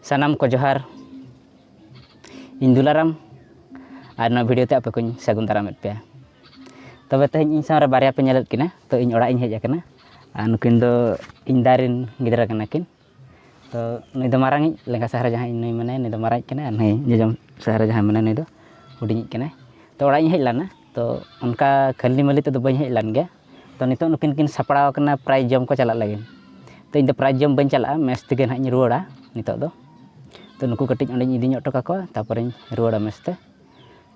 ᱥᱟᱱᱟᱢ ᱠᱚ ᱡᱚᱦᱟᱨ ᱤᱧ ᱫᱩᱞᱟᱨᱟᱢ ᱟᱨ ᱱᱚᱣᱟ ᱵᱷᱤᱰᱤᱭᱳ ᱛᱮ ᱟᱯᱮ ᱠᱚᱧ ᱥᱟᱹᱜᱩᱱ ᱫᱟᱨᱟᱢᱮᱫ ᱯᱮᱭᱟ ᱛᱚᱵᱮ ᱛᱮᱦᱮᱧ ᱤᱧ ᱥᱟᱶᱨᱮ ᱵᱟᱨᱭᱟ ᱯᱮ ᱧᱮᱞᱮᱫ ᱠᱤᱱᱟ ᱛᱚ ᱤᱧ ᱚᱲᱟᱜ ᱤᱧ ᱦᱮᱡ ᱟᱠᱟᱱᱟ ᱟᱨ ᱱᱩᱠᱤᱱ ᱫᱚ ᱤᱧ ᱫᱟ ᱨᱮᱱ ᱜᱤᱫᱽᱨᱟᱹ ᱠᱟᱱᱟ ᱠᱤᱱ ᱛᱚ ᱱᱩᱭ ᱫᱚ ᱢᱟᱨᱟᱝ ᱤᱡ ᱞᱮᱸᱜᱟ ᱥᱟᱦᱟᱨ ᱨᱮ ᱡᱟᱦᱟᱸᱭ ᱱᱩᱭ ᱢᱮᱱᱟᱭᱟ ᱱᱩᱭ ᱫᱚ ᱢᱟᱨᱟᱝ ᱤᱡ ᱠᱟᱱᱟᱭ ᱟᱨ ᱱᱩᱭ ᱡᱚᱡᱚᱢ ᱥᱟᱦᱟᱨ ᱨᱮ ᱡᱟᱦᱟᱸᱭ ᱢᱮᱱᱟᱭᱟ ᱱᱩᱭ ᱫᱚ ᱦᱩᱰᱤᱧ ᱤᱡ ᱠᱟᱱᱟᱭ ᱛᱚ ᱚᱲᱟᱜ ᱤᱧ ᱦᱮᱡ ᱞᱮᱱᱟ ᱛᱚ ᱚᱱᱠᱟ ᱠᱷᱟᱹᱞᱤ ᱢᱟᱹᱞᱤ ᱛᱮᱫᱚ ᱵᱟᱹᱧ ᱦᱮᱡ ᱞᱮᱱ ᱜᱮᱭᱟ ᱛᱚ ᱱᱤᱛᱚᱜ ᱱᱩᱠᱤᱱ ᱠᱤᱱ ᱥᱟᱯᱲᱟᱣ ᱟᱠᱟᱱᱟ ᱯᱨᱟᱭᱤᱡᱽ ᱡᱚᱢ ᱠᱚ ᱪᱟᱞᱟᱜ ᱞᱟᱹᱜᱤᱫ ᱛᱚ ᱤᱧᱫᱚ ᱯᱨᱟᱭᱤᱡᱽ ᱡᱚᱢ ᱵᱟᱹᱧ ᱪᱟᱞᱟᱜᱼᱟ ᱢᱮᱥ ᱛᱮᱜᱮ ᱱᱟᱦᱟᱜ ᱤᱧ ᱨᱩᱣᱟᱹᱲᱟ ᱱᱤᱛᱚᱜ ᱫᱚ ᱛᱚ ᱱᱩᱠᱩ ᱠᱟᱹᱴᱤᱡ ᱚᱸᱰᱮᱧ ᱤᱫᱤ ᱧᱚᱜ ᱦᱚᱴᱚ ᱠᱟᱠᱚᱣᱟ ᱛᱟᱨᱯᱚᱨᱮᱧ ᱨᱩᱣᱟᱹᱲᱟ ᱢᱮᱥ ᱛᱮ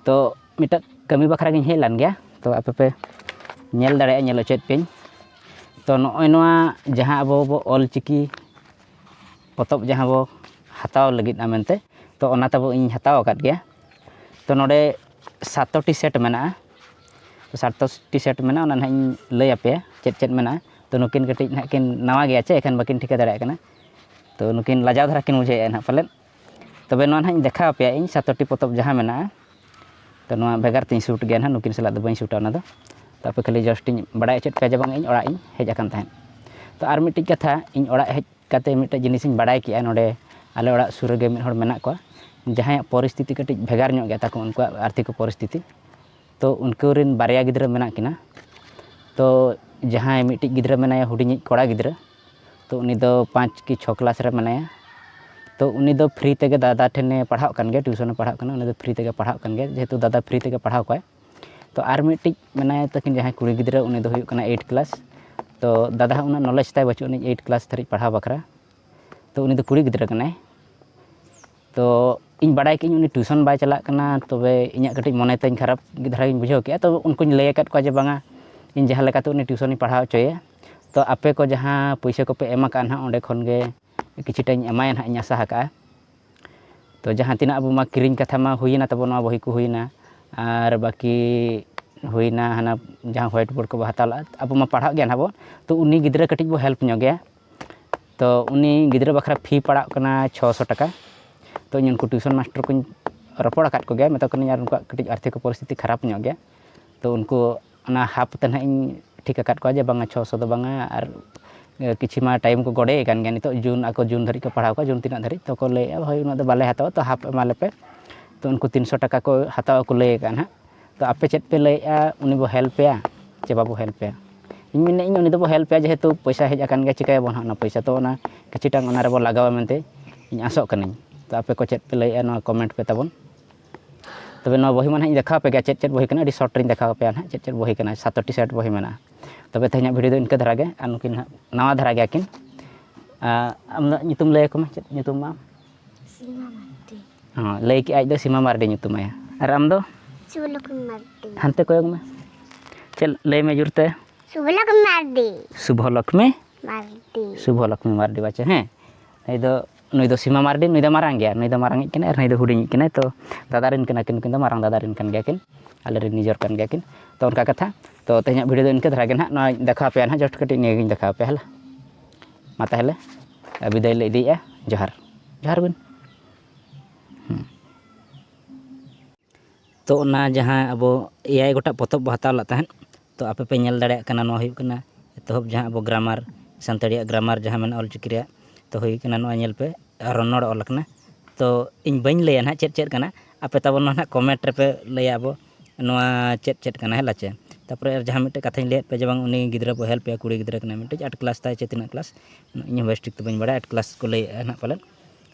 ᱛᱚ ᱢᱤᱫᱴᱟᱝ ᱠᱟᱹᱢᱤ ᱵᱟᱠᱷᱨᱟ ᱜᱤᱧ ᱦᱮᱡ ᱞᱮᱱ ᱜᱮᱭᱟ ᱛᱚ ᱟᱯᱮ ᱯᱮ ᱧᱮᱞ ᱫᱟᱲᱮᱭᱟᱜᱼᱟ ᱧᱮᱞ ᱦᱚᱪᱚᱭᱮᱫ ᱯᱮᱭᱟᱹᱧ ᱛᱚ ᱱᱚᱜᱼᱚᱭ ᱱᱚᱣᱟ ᱡᱟᱦᱟᱸ ᱟᱵᱚ ᱵᱚ ᱚᱞ ᱪᱤᱠᱤ ᱯᱚᱛᱚᱵ ᱡᱟᱦᱟᱸ ᱵᱚ ᱦᱟᱛᱟᱣ ᱞᱟᱹᱜᱤᱫᱼᱟ ᱢᱮᱱᱛᱮ ᱛᱚ ᱚᱱᱟ ᱛᱟᱵᱚ ᱤᱧ ᱦᱟᱛᱟᱣ ᱟᱠᱟᱫ ᱜᱮᱭᱟ ᱛᱚ ᱱᱚᱰᱮ ᱥᱟᱛᱴᱤ ᱥᱮᱴ ᱢᱮᱱᱟᱜᱼᱟ ᱥᱟᱨᱴ ᱴᱤ ᱥᱟᱨᱴ ᱢᱮᱱᱟᱜᱼᱟ ᱚᱱᱟ ᱱᱟᱦᱟᱜ ᱤᱧ ᱞᱟᱹᱭ ᱟᱯᱮᱭᱟ ᱪᱮᱫ ᱪᱮᱫ ᱢᱮᱱᱟᱜᱼᱟ ᱛᱳ ᱱᱩᱠᱤᱱ ᱠᱟᱹᱴᱤᱡ ᱱᱟᱦᱟᱜ ᱠᱤᱱ ᱱᱟᱣᱟ ᱜᱮᱭᱟ ᱪᱮ ᱮᱱᱠᱷᱟᱱ ᱵᱟᱹᱠᱤᱱ ᱴᱷᱤᱠᱟᱹ ᱫᱟᱲᱮᱭᱟᱜ ᱠᱟᱱᱟ ᱛᱳ ᱱᱩᱠᱤᱱ ᱞᱟᱡᱟᱣ ᱫᱷᱟᱨᱟ ᱠᱤᱱ ᱵᱩᱡᱷᱟᱹᱣᱮᱫᱼᱟ ᱱᱟᱦᱟᱜ ᱯᱟᱞᱮᱫ ᱛᱚᱵᱮ ᱱᱚᱣᱟ ᱱᱟᱦᱟᱜ ᱤᱧ ᱫᱮᱠᱷᱟᱣ ᱟᱯᱮᱭᱟ ᱤᱧ ᱥᱟᱛᱴᱤ ᱯᱚᱛᱚᱵ ᱡᱟᱦᱟᱸ ᱢᱮᱱᱟᱜᱼᱟ ᱛᱳ ᱱᱚᱣᱟ ᱵᱷᱮᱜᱟᱨ ᱛᱤᱧ ᱥᱩᱴ ᱜᱮᱭᱟ ᱱᱟᱦᱟᱜ ᱱᱩᱠᱤᱱ ᱥᱟᱞᱟᱜ ᱫᱚ ᱵᱟᱹᱧ ᱥᱩᱴᱟ ᱚᱱᱟᱫᱚ ᱛᱳ ᱟᱯᱮ ᱠᱷᱟᱹᱞᱤ ᱡᱟᱥᱴ ᱤᱧ ᱵᱟᱲᱟᱭ ᱦᱚᱪᱚᱭᱮᱫ ᱯᱮᱭᱟ ᱡᱮ ᱵᱟᱝ ᱤᱧ ᱚᱲᱟᱜ ᱤᱧ ᱦᱮᱡ ᱟᱠᱟᱱ ᱛᱟᱦᱮᱸᱫ ᱛᱳ ᱟᱨ ᱢᱤᱫᱴᱤᱡ ᱠᱟᱛᱷᱟ ᱤᱧ ᱚᱲᱟᱜ ᱦᱮᱡ ᱠᱟᱛᱮ ᱢᱤᱫᱴᱮᱡ ᱡᱤᱱᱤᱥ ᱤᱧ ᱵᱟᱲᱟᱭ ᱠᱮᱜᱼᱟ ᱱᱚᱰᱮ ᱟᱞᱮ ᱚᱲᱟᱜ ᱥᱩᱨ ᱨᱮᱜᱮ ᱢᱤᱫ ᱦᱚᱲ ᱢᱮᱱᱟᱜ ᱠᱚᱣᱟ ᱡᱟᱦᱟᱸᱭᱟᱜ ᱯᱚᱨᱤᱥᱛᱷᱤᱛᱤ ᱠᱟᱹᱴᱤᱡ ᱵᱷᱮᱜᱟᱨ ᱧᱚᱜ ᱜᱮᱭᱟ ᱛᱟᱠᱚ ᱩᱱᱠᱩᱣᱟᱜ ᱟᱨᱛᱷᱤᱠ ᱯᱚᱨᱤᱥᱛᱷᱤᱛᱤ ᱛᱚ ᱩᱱᱠᱩ ᱨᱮᱱ ᱵᱟᱨᱭᱟ ᱜᱤᱫᱽᱨᱟᱹ ᱢᱮᱱᱟᱜ ᱠᱤᱱᱟ ᱛᱚ ᱡᱟᱦᱟᱸᱭ ᱢᱤᱫᱴᱤᱡ ᱜᱤᱫᱽᱨᱟᱹ ᱢᱮᱱᱟᱭᱟ ᱦᱩᱰᱤᱧᱤᱡ ᱠᱚᱲᱟ ᱜᱤᱫᱽᱨᱟᱹ ᱛᱚ ᱩᱱᱤ ᱫᱚ ᱯᱟᱸᱪ ᱠᱤ ᱪᱷᱚ ᱠᱞᱟᱥ ᱨᱮ ᱢᱮᱱᱟᱭᱟ ᱛᱚ ᱩᱱᱤ ᱫᱚ ᱯᱷᱨᱤ ᱛᱮᱜᱮ ᱫᱟᱫᱟ ᱴᱷᱮᱱᱮ ᱯᱟᱲᱦᱟᱜ ᱠᱟᱱ ᱜᱮᱭᱟ ᱴᱤᱭᱩᱥᱚᱱᱮ ᱯᱟᱲᱦᱟᱜ ᱠᱟᱱᱟ ᱩᱱᱤ ᱫᱚ ᱯᱷᱨᱤ ᱛᱮᱜᱮ ᱯᱟᱲᱦᱟᱜ ᱠᱟᱱ ᱜᱮᱭᱟ ᱡᱮᱦᱮᱛᱩ ᱫᱟᱫᱟ ᱯᱷᱨᱤ ᱛᱮᱜᱮ ᱯᱟᱲᱦᱟᱣ ᱠᱚᱣᱟᱭ ᱛᱚ ᱟᱨ ᱢᱤᱫᱴᱤᱡ ᱢᱮᱱᱟᱭ ᱛᱟᱹᱠᱤᱱ ᱡᱟᱦᱟᱸᱭ ᱠᱩᱲᱤ ᱜᱤᱫᱽᱨᱟᱹ ᱩᱱᱤ ᱫᱚᱭ ᱦᱩᱭᱩᱜ ᱠᱟᱱᱟᱭ ᱮᱭᱤᱴ ᱠᱞᱟᱥ ᱛᱚ ᱫᱟᱫᱟ ᱦᱚᱸ ᱩᱱᱟᱹᱜ ᱱᱚᱞᱮᱡᱽ ᱛᱟᱭ ᱵᱟᱹᱪᱩᱜ ᱟᱹᱱᱤᱡ ᱮᱭᱤᱴ ᱠᱞᱟᱥ ᱫᱷᱟᱹᱨᱤᱡ ᱯᱟᱲᱦᱟᱣ ᱵᱟᱠᱷᱨᱟ ᱛᱚ ᱩᱱᱤ ᱫᱚ ᱠᱩᱲᱤ ᱜᱤᱫᱽᱨᱟᱹ ᱠᱟᱱᱟᱭ ᱛᱚ ᱤᱧ ᱵᱟᱲᱟᱭ ᱠᱮᱫ ᱟᱹᱧ ᱩᱱᱤ ᱴᱤᱭᱩᱥᱚᱱ ᱵᱟᱭ ᱪᱟᱞᱟᱜ ᱠᱟᱱᱟ ᱛᱚᱵᱮ ᱤᱧᱟᱹᱜ ᱠᱟᱹᱴᱤᱡ ᱢᱚᱱᱮ ᱛᱤᱧ ᱠᱷᱟᱨᱟᱯ ᱜᱮ ᱫᱷᱟᱨᱟ ᱜᱤᱧ ᱵᱩᱡᱷᱟᱹᱣ ᱠᱮᱫᱼᱟ ᱛᱚ ᱩᱱᱠᱩᱧ ᱞᱟᱹᱭ ᱟᱠᱟᱫ ᱠᱚᱣᱟ ᱡᱮ ᱵᱟᱝᱟ ᱤᱧ ᱡᱟᱦᱟᱸ ᱞᱮᱠᱟᱛᱮ ᱩᱱᱤ ᱴᱤᱭᱩᱥᱚᱱᱤᱧ ᱯᱟᱲᱦᱟᱣ ᱦᱚᱪᱚᱭᱮᱭᱟ ᱛᱚ ᱟᱯᱮ ᱠᱚ ᱡᱟᱦᱟᱸ ᱯᱩᱭᱥᱟᱹ ᱠᱚᱯᱮ ᱮᱢ ᱟᱠᱟᱫᱼᱟ ᱦᱟᱸᱜ ᱚᱸᱰᱮ ᱠᱷᱚᱱ ᱜᱮ ᱠᱤᱪᱷᱩᱴᱟᱧ ᱮᱢᱟᱭᱟ ᱦᱟᱸᱜ ᱤᱧ ᱟᱥᱟ ᱟᱠᱟᱫᱼᱟ ᱛᱚ ᱡᱟᱦᱟᱸ ᱛᱤᱱᱟᱹᱜ ᱟᱵᱚ ᱢᱟ ᱠᱤᱨᱤᱧ ᱠᱟᱛᱷᱟ ᱢᱟ ᱦᱩᱭᱮᱱᱟ ᱛᱟᱵᱚ ᱱᱚᱣᱟ ᱵᱚᱦᱤ ᱠᱚ ᱦᱩᱭᱮᱱᱟ ᱟᱨ ᱵᱟᱹᱠᱤ ᱦᱩᱭᱮᱱᱟ ᱦᱟᱱᱟ ᱡᱟᱦᱟᱸ ᱦᱳᱣᱟᱭᱤᱴ ᱵᱳᱨᱰ ᱠᱚᱵᱚ ᱦᱟᱛᱟᱣ ᱞᱟᱜᱼᱟ ᱟᱵᱚ ᱢᱟ ᱯᱟᱲᱦᱟᱜ ᱜᱮᱭᱟ ᱱᱟᱦᱟᱜ ᱵᱚ ᱛᱚ ᱩᱱᱤ ᱜᱤᱫᱽᱨᱟᱹ ᱠᱟᱹᱴᱤᱡ ᱵᱚ ᱦᱮᱞᱯ ᱧᱚᱜ ᱮᱭᱟ ᱛᱚ ᱩᱱᱤ ᱜᱤᱫᱽᱨᱟᱹ ᱵᱟᱠᱷᱨᱟ ᱯᱷᱤ ᱯᱟᱲᱟᱜ ᱠᱟᱱᱟ ᱪᱷᱚ ᱥᱚ ᱴᱟᱠᱟ ᱛᱚ ᱤᱧ ᱩᱱᱠᱩ ᱴᱤᱭᱩᱥᱚᱱ ᱢᱟᱥᱴᱟᱨ ᱠᱚᱧ ᱨᱚᱯᱚᱲ ᱟᱠᱟᱫ ᱠᱚᱜᱮᱭᱟ ᱢᱮᱛᱟ ᱠᱚ ᱠᱟᱹᱱᱟᱹᱧ ᱟᱨ ᱩᱱᱠᱩᱣᱟᱜ ᱠᱟᱹᱴᱤᱡ ᱟᱨᱛᱷᱤᱠ ᱯᱚᱨᱤᱥᱛᱷᱤᱛᱤ ᱠᱷᱟᱨᱟᱯ ᱧᱚᱜ ᱜᱮᱭᱟ ᱛᱚ ᱩᱱᱠᱩ ᱚᱱᱟ ᱦᱟᱯ ᱛᱮ ᱱᱟᱦᱟᱜ ᱤᱧ ᱴᱷᱤᱠ ᱟᱠᱟᱫ ᱠᱚᱣᱟ ᱡᱮ ᱵᱟᱝᱟ ᱪᱷᱚ ᱥᱚ ᱫᱚ ᱵᱟᱝᱟ ᱟᱨ ᱠᱤᱪᱷᱩ ᱢᱟ ᱴᱟᱭᱤᱢ ᱠᱚ ᱜᱚᱰᱮ ᱟᱠᱟᱱ ᱜᱮᱭᱟ ᱱᱤᱛᱚᱜ ᱡᱩᱱ ᱟᱠᱚ ᱡᱩᱱ ᱫᱷᱟᱹᱨᱤᱡ ᱠᱚ ᱯᱟᱲᱦᱟᱣ ᱠᱚᱣᱟ ᱡᱩᱱ ᱛᱤᱱᱟᱹᱜ ᱫᱷᱟᱹᱨᱤᱡ ᱛᱚ ᱠᱚ ᱞᱟᱹᱭᱮᱫᱼᱟ ᱦᱳᱭ ᱩᱱᱟᱹᱜ ᱫᱚ ᱵᱟᱞᱮ ᱦᱟᱛᱟᱣᱟ ᱛᱚ ᱦᱟᱯ ᱮᱢᱟ ᱞᱮᱯᱮ ᱛᱚ ᱩᱱᱠᱩ ᱛᱤᱱ ᱥᱚ ᱴᱟᱠᱟ ᱠᱚ ᱦᱟᱛᱟᱣ ᱟᱠᱚ ᱞᱟᱹᱭ ᱟᱠᱟᱫᱼᱟ ᱱᱟᱦᱟᱜ ᱛᱚ ᱟᱯᱮ ᱪᱮᱫ ᱯᱮ ᱞᱟᱹᱭᱮᱫᱼᱟ ᱩᱱᱤ ᱵᱚ ᱦᱮᱞᱯ ᱮᱭᱟ ᱪᱮ ᱵᱟᱵᱚ ᱦᱮᱞᱯ ᱮᱭᱟ ᱤᱧ ᱢᱮᱱᱮᱫ ᱟᱹᱧ ᱩᱱᱤ ᱫᱚᱵᱚ ᱦᱮᱞᱯ ᱮᱭᱟ ᱡᱮᱦᱮᱛᱩ ᱯᱚᱭᱥᱟ ᱦᱮᱡ ᱟᱠᱟᱱ ᱜᱮᱭᱟ ᱪᱤᱠᱟᱹᱭᱟᱵᱚᱱ ᱱᱟᱦᱟᱜ ᱚᱱᱟ ᱯᱚᱭᱥᱟ ᱛᱚ ᱚᱱᱟ ᱠᱤᱪᱷᱩᱴᱟ ᱚᱱᱟ ᱨᱮᱵᱚ ᱞᱟᱜᱟᱣᱟ ᱢᱮᱱᱛᱮ ᱤᱧ ᱟᱥᱚᱜ ᱠᱟᱹᱱᱟᱹᱧ ᱛᱚ ᱟᱯᱮ ᱠᱚ ᱪᱮᱫ ᱯᱮ ᱞᱟᱹᱭᱮᱫᱼᱟ ᱱᱚᱣᱟ ᱠᱚᱢᱮᱱᱴ ᱯᱮ ᱛᱟᱵᱚᱱ ᱛᱚᱵᱮ ᱱᱚᱣᱟ ᱵᱚᱦᱤ ᱢᱟ ᱱᱟᱦᱟᱜ ᱤᱧ ᱫᱮᱠᱷᱟᱣ ᱟᱯᱮ ᱜᱮᱭᱟ ᱪᱮᱫ ᱪᱮᱫ ᱵᱚᱦᱤ ᱠᱟᱱᱟ ᱟᱹᱰᱤ ᱥᱚᱨᱴ ᱨᱤᱧ ᱫᱮᱠᱷᱟᱣ ᱟᱯᱮᱭᱟ ᱱᱟᱦᱟᱜ ᱪᱮᱫ ᱪᱮᱫ ᱵᱚᱦᱤ ᱠᱟᱱᱟ ᱥᱟᱛ ᱟᱴᱴᱤ ᱥᱮᱴ ᱵᱚᱦᱤ ᱢᱮᱱᱟᱜᱼᱟ ᱛᱚᱵᱮ ᱛᱮᱦᱮᱧᱟᱜ ᱵᱷᱤᱰᱤᱭᱳ ᱫᱚ ᱤᱱᱠᱟᱹ ᱫᱷᱟᱨᱟ ᱜᱮ ᱟᱨ ᱱᱩᱠᱤᱱ ᱱᱟᱦᱟᱜ ᱱᱟᱣᱟ ᱫᱷᱟᱨᱟ ᱜᱮᱭᱟ ᱠᱤᱱ ᱟᱢ ᱫᱚ ᱧᱩᱛᱩᱢ ᱞᱟᱹᱭ ᱟᱠᱚ ᱢᱮ ᱪᱮᱫ ᱧᱩᱛᱩᱢ ᱢᱟ ᱥᱤᱢᱟ ᱢᱟᱨᱰᱤ ᱦᱚᱸ ᱞᱟᱹᱭ ᱠᱮᱜ ᱟᱡ ᱫᱚ ᱥᱤᱢᱟ ᱢᱟᱨᱰᱤ ᱧᱩᱛᱩᱢᱟᱭᱟ ᱟᱨ ᱟᱢ ᱫᱚ ᱥᱩᱵᱷᱞᱚᱠᱷᱢᱤ ᱢᱟᱨᱰᱤ ᱦᱟᱱᱛᱮ ᱠᱚᱭᱚᱜ ᱢᱮ ᱪᱮᱫ ᱞᱟᱹᱭ ᱢᱮ ᱡᱳᱨ ᱛᱮ ᱥᱩᱵᱷᱞᱚᱠᱷᱢᱤ ᱢᱟᱨᱰᱤ ᱥᱩᱵᱷᱚᱞᱚᱠᱷᱢᱤ ᱢᱟᱨᱰᱤ ᱥᱩᱵᱷᱚᱞᱚᱠᱷᱢᱤ ᱢᱟᱨᱰᱤ ᱵᱟᱪᱮ ᱦᱮᱸ ᱱᱩᱭ ᱫᱚ ᱱᱩᱭ ᱫᱚ ᱥᱤᱢᱟ ᱢᱟᱨᱰᱤ ᱱᱩᱭ ᱫᱚ ᱢᱟᱨᱟᱝ ᱜᱮᱭᱟᱭ ᱱᱩᱭ ᱫᱚ ᱢᱟᱨᱟᱝ ᱤᱡ ᱠᱟᱱᱟᱭ ᱟᱨ ᱱᱩᱭ ᱫᱚ ᱦᱩᱰᱤᱧ ᱤᱡ ᱠᱟᱱᱟᱭ ᱛᱚ ᱫᱟᱫᱟ ᱨᱮᱱ ᱠᱟᱱᱟ ᱠᱤᱱ ᱱᱩᱠᱤᱱ ᱫᱚ ᱢᱟᱨᱟᱝ ᱫᱟᱫᱟ ᱨᱮᱱ ᱠᱟᱱ ᱜᱮᱭᱟ ᱠᱤᱱ ᱟᱞᱮ ᱨᱮᱱ ᱱᱤᱡᱚᱨ ᱠᱟᱱ ᱜᱮᱭᱟ ᱠᱤᱱ ᱛᱚ ᱚᱱᱠᱟ ᱠᱟᱛᱷᱟ ᱛᱚ ᱛᱮᱦᱮᱧᱟᱜ ᱵᱷᱤᱰᱤᱭᱳ ᱫᱚ ᱤᱱᱠᱟᱹ ᱫᱷᱟᱨᱟ ᱜᱮ ᱦᱟᱸᱜ ᱱᱚᱣᱟ ᱫᱮᱠᱷᱟᱣ ᱯᱮᱭᱟ ᱦᱟᱸᱜ ᱡᱟᱥᱴ ᱠᱟᱹᱴᱤᱡ ᱱᱤᱭᱟᱹ ᱜᱮᱧ ᱫᱮᱠᱷᱟᱣ ᱯᱮᱭᱟ ᱦᱮᱞᱟ ᱢᱟ ᱛᱟᱦᱚᱞᱮ ᱵᱤᱫᱟᱹᱭ ᱞᱮ ᱤᱫᱤᱭᱮᱜᱼᱟ ᱡᱚᱦᱟᱨ ᱡᱚᱦᱟᱨ ᱵᱤᱱ ᱦᱮᱸ ᱛᱚ ᱚᱱᱟ ᱡᱟᱦᱟᱸ ᱟᱵᱚ ᱮᱭᱟᱭ ᱜᱚᱴᱟᱝ ᱯᱚᱛᱚᱵ ᱵᱚᱱ ᱦᱟᱛᱟᱣ ᱞᱮᱫ ᱛᱟᱦᱮᱸᱫ ᱛᱚ ᱟᱯᱮ ᱯᱮ ᱧᱮᱞ ᱫᱟᱲᱮᱭᱟᱜ ᱠᱟᱱᱟ ᱱᱚᱣᱟ ᱦᱩᱭᱩᱜ ᱠᱟᱱᱟ ᱮᱛᱚᱦᱚᱵ ᱡᱟᱦᱟᱸ ᱟᱵᱚ ᱜᱨᱟᱢᱟᱨ ᱥᱟᱱᱛᱟᱲᱤᱭᱟᱜ ᱜᱨᱟᱢᱟᱨ ᱡᱟᱦᱟᱸ ᱢᱮᱱᱟᱜᱼᱟ ᱚᱞ ᱪᱤᱠᱤ ᱨᱮᱭᱟᱜ ᱛᱚ ᱦᱩᱭ ᱠᱟᱱᱟ ᱱᱚᱜᱼᱚᱭ ᱧᱮᱞ ᱯᱮ ᱨᱚᱱᱚᱲ ᱚᱞ ᱠᱟᱱᱟ ᱛᱚ ᱤᱧ ᱵᱟᱹᱧ ᱞᱟᱹᱭᱟ ᱦᱟᱸᱜ ᱪᱮᱫ ᱪᱮᱫ ᱠᱟᱱᱟ ᱟᱯᱮ ᱛᱟᱵᱚᱱ ᱢᱟ ᱦᱟᱸᱜ ᱠᱚᱢᱮᱱᱴ ᱨᱮᱯᱮ ᱞᱟᱹᱭᱟ ᱟᱵᱚ ᱱᱚᱣᱟ ᱪᱮᱫ ᱪᱮᱫ ᱠᱟᱱᱟ ᱦᱮᱸ ᱞᱟᱪᱮ ᱛᱟᱨᱯᱚᱨᱮ ᱡᱟᱦᱟᱸ ᱢᱤᱫᱴᱮᱡ ᱠᱟᱛᱷᱟᱧ ᱞᱟᱹᱭᱟᱫ ᱯᱮᱭᱟ ᱡᱮ ᱵᱟᱝ ᱩᱱᱤ ᱜᱤᱫᱽᱨᱟᱹ ᱵᱚᱱ ᱦᱮᱞᱯ ᱮᱭᱟ ᱠᱩᱲᱤ ᱜᱤᱫᱽᱨᱟᱹ ᱠᱟᱱᱟᱭ ᱢᱤᱫᱴᱤᱡ ᱟᱴ ᱠᱞᱟᱥ ᱛᱟᱭ ᱥᱮ ᱛᱤᱱᱟᱹᱜ ᱠᱞᱟᱥ ᱤᱧ ᱦᱚᱸ ᱵᱮᱥ ᱴᱷᱤᱠ ᱫᱚ ᱵᱟᱹᱧ ᱵᱟᱲᱟᱭᱟ ᱟᱴ ᱠᱞᱟᱥ ᱠᱚ ᱞᱟᱹᱭᱮᱫᱼᱟ ᱦᱟᱸᱜ ᱯᱟᱞᱮᱫ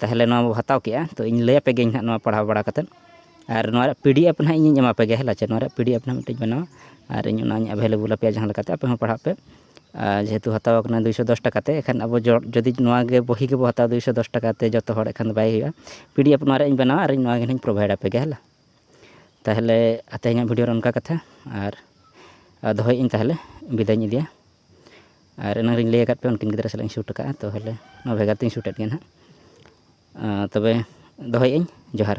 ᱛᱟᱦᱚᱞᱮ ᱱᱚᱣᱟ ᱵᱚᱱ ᱦᱟᱛᱟᱣ ᱠᱮᱜᱼᱟ ᱛᱳ ᱤᱧ ᱞᱟᱹᱭ ᱟᱯᱮ ᱜᱤᱭᱟᱹᱧ ᱦᱟᱸᱜ ᱱᱚᱣᱟ ᱯᱟᱲᱦᱟᱣ ᱵᱟᱲᱟ ᱠᱟᱛᱮᱫ ᱟᱨ ᱱᱚᱣᱟ ᱨᱮᱭᱟᱜ ᱯᱤ ᱰᱤ ᱮᱯᱷ ᱦᱟᱸᱜ ᱤᱧᱤᱧ ᱮᱢᱟ ᱯᱮ ᱜᱮᱭᱟ ᱦᱮᱸᱞᱟᱪᱮ ᱱᱚᱣᱟ ᱨᱮᱭᱟᱜ ᱯᱤ ᱰᱤ ᱮᱯᱷ ᱦᱟᱸᱜ ᱢᱤᱫᱴᱤᱡ ᱵᱮᱱᱟᱣᱟ ᱟᱨ ᱤᱧ ᱚᱱᱟᱧ ᱮᱵᱷᱮᱞᱮᱵᱚᱞ ᱟᱯᱮᱭᱟ ᱡᱟᱦᱟᱸ ᱞᱮᱠᱟᱛᱮ ᱟᱯᱮ ᱦᱚᱸ ᱯᱟᱲᱦᱟᱜ ᱯᱮ ᱟᱨ ᱡᱮᱦᱮᱛᱩ ᱦᱟᱛᱟᱣ ᱠᱟᱱᱟ ᱫᱩᱭᱥᱚ ᱫᱚᱥ ᱴᱟᱠᱟ ᱛᱮ ᱮᱱᱠᱷᱟᱱ ᱟᱵᱚ ᱡᱩᱫᱤ ᱱᱚᱣᱟ ᱜᱮ ᱵᱳᱭ ᱜᱮᱵᱚᱱ ᱦᱟᱛᱟᱣᱟ ᱫᱩᱭᱥᱚ ᱫᱚᱥ ᱴᱟᱠᱟ ᱛᱮ ᱡᱚᱛᱚ ᱦᱚᱲ ᱮᱱᱠᱷᱟᱱ ᱫᱚ ᱵᱟᱭ ᱦᱩᱭᱩᱜᱼᱟ ᱯᱤ ᱰᱤ ᱮᱯᱷ ᱱᱚᱣᱟ ᱨᱮᱭᱟᱜ ᱤᱧ ᱵᱮᱱᱟᱣᱟ ᱟᱨ ᱱᱚᱣᱟ ᱜᱮ ᱦᱟᱸᱜ ᱤᱧ ᱯᱨᱳᱵᱷᱟᱭᱤᱰ ᱟᱯᱮ ᱜᱮ ᱦᱮᱸᱞᱟ ᱛᱟᱦᱚᱞᱮ ᱛᱮᱦᱮᱧᱟᱜ ᱵᱷᱤᱰᱤᱭᱳ ᱫᱚ ᱚᱱᱠᱟ ᱠᱟᱛᱷᱟ ᱟᱨ ᱫᱚᱦᱚᱭᱮᱜ ᱟᱹᱧ ᱛᱟᱦᱚᱞᱮ ᱵᱤᱫᱟᱹᱭ ᱤᱧ ᱤᱫᱤᱭᱟ ᱟᱨ ᱮᱱᱟᱝ ᱨᱮᱧ ᱞᱟᱹᱭ ᱟᱠᱟᱫ ᱯᱮᱭᱟ ᱩᱱᱠᱤᱱ ᱜᱤᱫᱽᱨᱟᱹ ᱥᱟᱞᱟᱜ ᱤᱧ ᱥᱩᱴ ᱟᱠᱟᱫᱼᱟ ᱛᱟᱦᱚᱞᱮ ᱱᱚᱣᱟ ᱵᱷᱮᱜᱟᱨ ᱛᱤᱧ ᱥᱩᱴ ᱟᱫ ᱠᱤᱱᱟ ᱦᱟᱸᱜ ᱛᱚᱵᱮ ᱫᱚᱦᱚᱭᱮᱫ ᱟᱹᱧ ᱡᱚᱦᱟᱨ